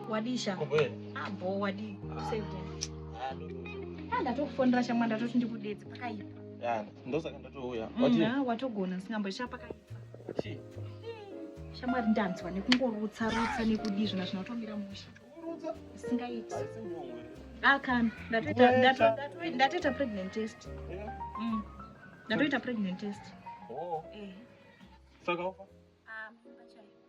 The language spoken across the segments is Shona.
wadii sha abo ah, wadii useko ah, ndatokufonera shamwa ndatoti ndikudedze pakaipa ndosaka ndatouya mm, watogona singamboisha pakaipa shamwari ndanzwa nekungorutsa rutsa nekudii zvona zvinotomira musha isingaiti akana ah, ndatoita pregnant test mm. ndatoita pregnant test oh. eh. saka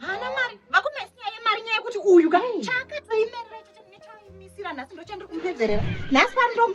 Hana mari, vakumesi nyaya yemari nyaya yekuti uyu ka chakatoimerera ichocho nechoimisira nhasi ndocho ndiri kumupedzerera. Nhasi pari ndomu.